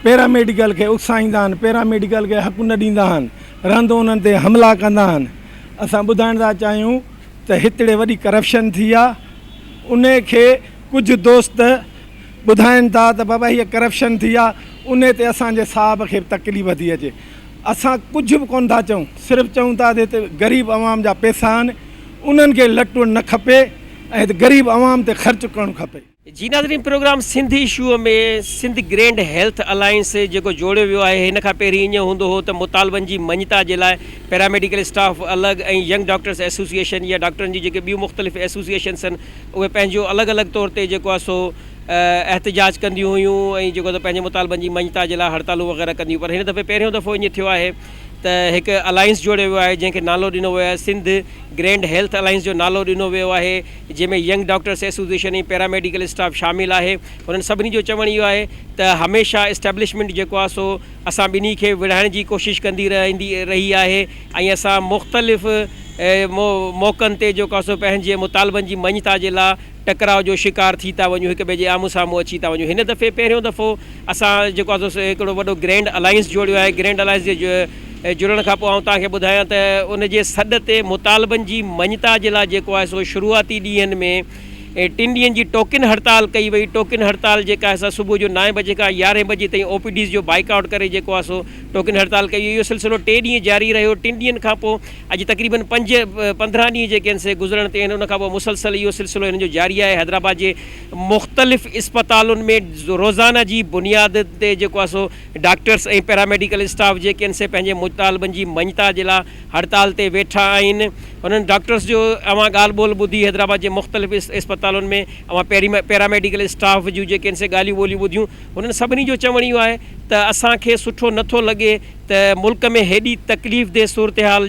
پيراميڊيڪل کي اڪسائيندا آهن پيراميڊيڪل کي حق نه ڏيندا آهن رهندو انهن تي حملا ڪندا آهن اسان ٻڌائڻ ٿا چاهيون ته هتڙي وڏي ڪرپشن ٿي آهي انهي کي ڪجهه دوست ٻڌائين ٿا ته بابا هيء ڪرپشن ٿي آ، انهي تي اسان جي صاحب کي به تڪليف ٿي اچي. اسان ڪجهه به ڪونه ٿا چئون، صرف چئون ٿا ته هت غريب عوام جا پئسا آهن، انهن کي لٽڻ نه کپي ۽ هت غريب عوام تي خرچ ڪرڻ کپي. جي ناظرين programme Sindh issue ۾ Sindh grand health alliance جيڪو جوڙيو ويو آهي هن کان پهرين ائين هوندو هو ته مطالبن جي مڃتا جي لاء پيراميڊيڪل اسٽاف الڳ ۽ ينگ ڊاڪٽرس ايسوسيئيشن يا ڊاڪٽرن جون جيڪي ٻيون مختلف ايسوسيئيشنس آهن اهي پنهنجو الڳ الڳ طور تي جيڪو آهي سو احتجاج ڪنديون هيون ۽ جيڪو آهي سو پنهنجي مطالبن جي مڃتا جي لاء هڙتالون وغيره ڪنديون پر هن دفعي پهريون دفعو ائين ٿيو آهي ته هڪ الائنس جوڙيو ويو آهي جنهن کي نالو ڏنو ويو آهي سنڌ گرينڊ هيلٿ الائنس جو نالو ڏنو ويو آهي جنهن ۾ young doctors association ۽ paramedical staff شامل آهي هنن سڀني جو چوڻ اهو آهي ته هميشه اسٽيبلشمينٽ جيڪو آهي سو اسان ٻنهي کي وڙهائڻ جي ڪوشش ڪندي رهندي رهي آهي ۽ اسان مختلف موقعن تي جيڪو آسو پنهنجي مطالبن جي مڃتا جي لا ٽڪراء جو شڪار ٿي ٿا وڃون هڪ ٻئي جي آمهون سامهون اچي ٿا وڃون هن دفعي پهريون دفعو اسان جيڪو آسو سو هڪڙو وڏو گرينڊ الائنس جوڙيو آهي گرينڊ الائنس جي جڙڻ کان پوء آئون توهان کي ٻڌايان ته ان جي سڏ تي مطالبن جي مڃتا جي لا جيڪو آهي سو شروعاتي ڏينهن ۾ ٽن ڏينهن جي ٽوڪن هڙتال ڪئي وئي ٽوڪن هڙتال جيڪا آهي سا صبح جو نائين بجي کان يارهين بجي تائين او پي ڊيز جو بائيڪاٽ ڪري جيڪو آسو ٽوڪن هڙتال ڪئي وئي اهو سلسلو ٽي ڏينهن جاري رهيو ٽن ڏينهن کان پوء اڄ تقريبن پنج پندرهن ڏينهن جيڪي آهن سي گذرڻ تي آهن ان کان پوء مسلسل اهو سلسلو هنن جو جاري آهي حيدرآباد جي مختلف اسپتالن ۾ روزانه جي بنياد تي جيڪو آهي سو ڊاڪٽرس ۽ پيراميڊيڪل اسٽاف جيڪي آهن سي پنهنجي مطالبن جي مڃتا جي لاء هڙتال تي ويٺا آهن هنن ڊاڪٽرس جو اوهان ڳالهه ٻولهه ٻڌي حيدرآباد جي مختلف اسپتالن ۾ اوهان پيراميڊيڪل اسٽاف جون جيڪي آهن سي ڳالهيون ٻولهيون ٻڌيون هنن سڀني جو چوڻ اهو آهي ته اسان کي سٺو نه ٿو لڳي ته ملڪ ۾ هيڏي تڪليف دهه صورتحال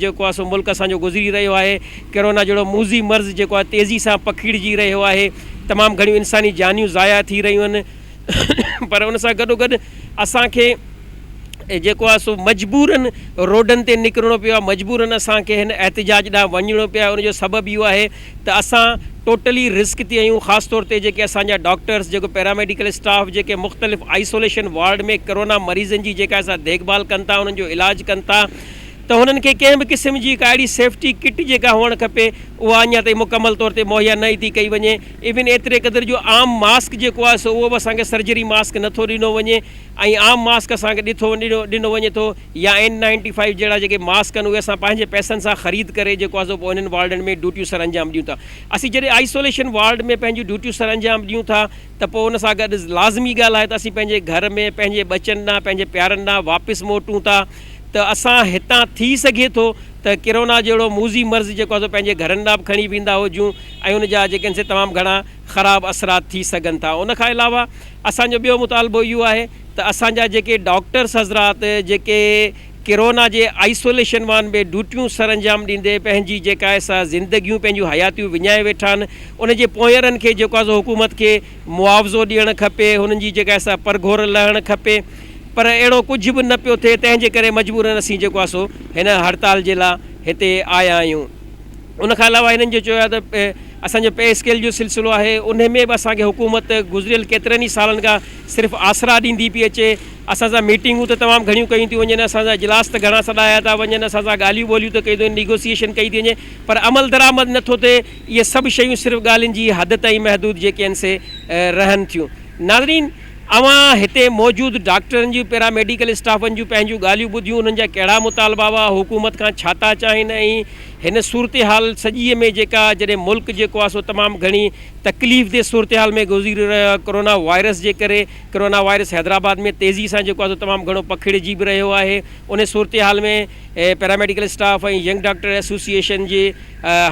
جيڪو آهي سو ملڪ اسان جو گذري رهيو آهي ڪرونا جهڙو موذي مرض جيڪو آهي تيزي سان پکيڙجي رهيو آهي تمام گهڻيون انساني جانيون ضايع ٿي رهيون آهن پر ان سان گڏوگڏ اسان کي جيڪو آهي سو مجبورن روڊن تي نڪرڻو پيو آهي مجبورن اسان کي هن احتجاج ڏانهن وڃڻو پيو آهي ان جو سبب اهو آهي ته اسان ٽوٽلي رسڪ تي آهيون خاص طور تي جيڪي اسان جا ڊاڪٽرز جيڪو پيراميڊيڪل اسٽاف جيڪي مختلف آئسوليشن وارڊ ۾ ڪرونا مريضن جي جيڪا اسان ديکڀال ڪن ٿا انهن جو علاج ڪن ٿا ته هنن کي ڪنهن به قسم جي ڪا اهڙي سيفٽي ڪٽ جيڪا هئڻ کپي اها اڃا تائين مڪمل طور تي مهيا نه ئي ٿي ڪئي وڃي ايون ايتري قدر جو عام ماسڪ جيڪو آهي سو اهو به اسان کي سرجري ماسڪ نٿو ڏنو وڃي ۽ عام ماسڪ اسان کي ڏٺو ڏنو ڏنو وڃي ٿو يا اين نائنٽي فائيو جهڙا جيڪي ماسڪ آهن اهي اسان پنهنجي پئسن سان خريد ڪري جيڪو آهي سو پوء انهن وارڊن ۾ ڊيوٽيون سر انجام ڏيون ٿا. اسين جڏهن آئسوليشن وارڊ ۾ پنهنجون ڊيوٽيون سر انجام ڏيون ٿا ته پوء ان سان گڏ لازمي ڳالهه آهي ته اسين پنهنجي گهر ۾ پنهنجي ٻچن ڏانهن پنهنجي پيارن ڏانهن واپس موٽون ٿا ته اسان هتان ٿي سگهي ٿو ته ڪرونا جهڙو موذي مرض جيڪو آهي سو پنهنجي گهرن ڏانهن به کڻي ويندا هجون ۽ ان جا جيڪي آهن سي تمام گهڻا خراب اثرات ٿي سگهن ٿا. ان کان علاوه اسان جو ٻيو مطالبو اهو آهي ته اسان جا جيڪي ڊاڪٽرس حضرات جيڪي ڪرونا جي آئسوليشن وان ۾ ڊيوٽيون سرانجام ڏيندي پنهنجي جيڪا آهي سا زندگيون پنهنجون حياتيون وڃائي ويٺا آهن ان جي پونئرن کي جيڪو آهي سو حڪومت کي معاوضو ڏيڻ کپي هنن جي جيڪا آهي سا پرگهور لهڻ کپي پر اهڙو ڪجهه به نه پيو ٿئي تنهن جي ڪري مجبورن اسين جيڪو آهي سو هن هڙتال جي لا هتي آيا آهيون ان کان علاوه هنن جو چيو آهي ته اسان جو پي اسڪيل جو سلسلو آهي ان ۾ به اسان کي حڪومت گذريل ڪيترن ئي سالن کان صرف آسرا ڏيندي پئي اچي. اسان سان ميٽنگون ته تمام گهڻيون ڪيون ٿيون وڃن، اسان سان اجلاس ته گهڻا سڏايا ٿا وڃن، اسان سان ڳالهيون ٻولهيون ته ڪيون ٿيون وڃن، نيگوسيئيشن ڪئي ٿي وڃي پر عمل درآمد نه ٿو ٿئي. اهي سڀ شيون صرف ڳالهين جي حد تائين محدود جيڪي آهن سي رهن ٿيون. ناظرين! اوهان هتي موجود ڊاڪٽرن جون، پيرا ميڊيڪل اسٽافن جون پنهنجون ڳالهيون ٻڌيون، انهن جا ڪهڙا مطالبا هئا، حڪومت کان ڇا ٿا چاهين ۽ هن صورتحال سڄيء ۾ جيڪا جڏهن ملڪ جيڪو آهي سو تمام گهڻي تڪليف دي صورتحال ۾ گذري رهيو آهي ڪورونا وائرس جي ڪري ڪورونا وائرس حيدرآباد ۾ تيزي سان جيڪو آهي سو تمام گهڻو پکڙجي به رهيو آهي ان صورتحال ۾ paramedical staff ۽ young doctor association جي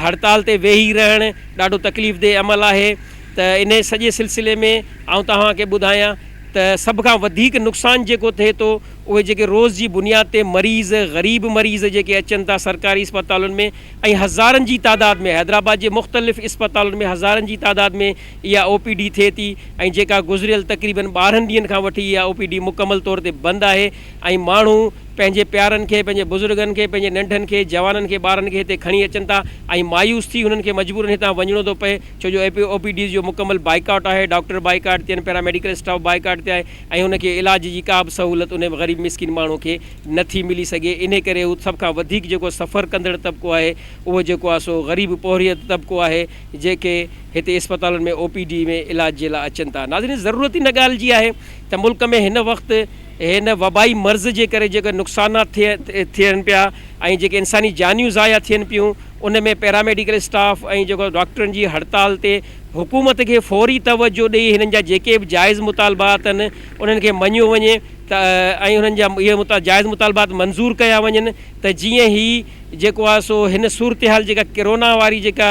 هڙتال تي ويهي رهڻ ڏاڍو تڪليف دي عمل آهي ته ان سڄي سلسلي ۾ آئون توهان کي ٻڌايان ته سڀ کان وڌيڪ نقصان جيڪو ٿئي ٿو اهي جيڪي روز جي بنياد تي مريض غريب مريض جيڪي اچن ٿا سرڪاري اسپتالن ۾ ۽ هزارن جي تعداد ۾ حيدرآباد جي مختلف اسپتالن ۾ هزارن جي تعداد ۾ اها او پي ڊي ٿئي ٿي ۽ جيڪا گذريل تقريبن ٻارهن ڏينهن کان وٺي اها او پي ڊي مڪمل طور تي بند آهي ۽ ماڻهو پنهنجي پيارن کي پنهنجي بزرگن کي پنهنجي ننڍن کي جوانن کي ٻارن کي هتي کڻي اچن ٿا ۽ مايوس ٿي هنن کي مجبورن هتان وڃڻو ٿو پئي ڇو جو او پي ڊيز جو مڪمل بائيڪاٽ آهي ڊاڪٽر بائيڪاٽ تي آهن پيراميڊيڪل اسٽاف بائيڪاٽ تي آهي ۽ هن کي علاج جي ڪا به سهولت ان غريب مسڪين ماڻهو کي نه ٿي ملي سگهي انهي ڪري هو سڀ کان وڌيڪ جيڪو سفر ڪندڙ طبقو آهي اهو جيڪو آهي سو غريب پورهيت طبقو آهي جيڪي هتي اسپتالن ۾ او پي ڊي ۾ علاج جي لاء اچن ٿا ناظرين ضرورت ان ڳالهه جي آهي ته ملڪ ۾ هن وقت هن وبائي مرض جي ڪري جيڪي نقصانات ٿي ٿين پيا ۽ جيڪي انساني جانيون ضايع ٿين پيون ان ۾ پيراميڊيڪل اسٽاف ۽ جيڪو ڊاڪٽرن جي هڙتال تي حڪومت کي فوري توجهه ڏئي هنن جا جيڪي به جائز مطالبا اٿن انهن کي مڃيو وڃي ته ۽ انهن جا اهي مطا جائز مطالبات منظور ڪيا وڃن ته جيئن هي جيڪو آهي سو هن صورتحال جيڪا ڪرونا واري جيڪا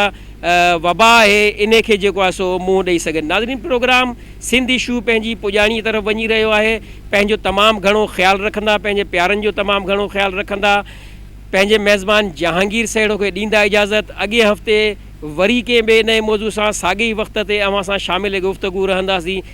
وبا آهي انهي کي جيڪو آهي سو منهن ڏئي سگهن ناظرين پروگرام سنڌ ايشو پنهنجي پڄاڻي طرف وڃي رهيو آهي پنهنجو تمام گهڻو خيال رکندا پنهنجي پيارن جو تمام گهڻو خيال رکندا پنهنجي ميزبان جهانگير سهڻو کي ڏيندا اجازت اڳئين هفتي وري ڪنهن ٻئي نئين موضوع سان ساڳئي وقت تي اوهان سان شامل گفتگو رهنداسين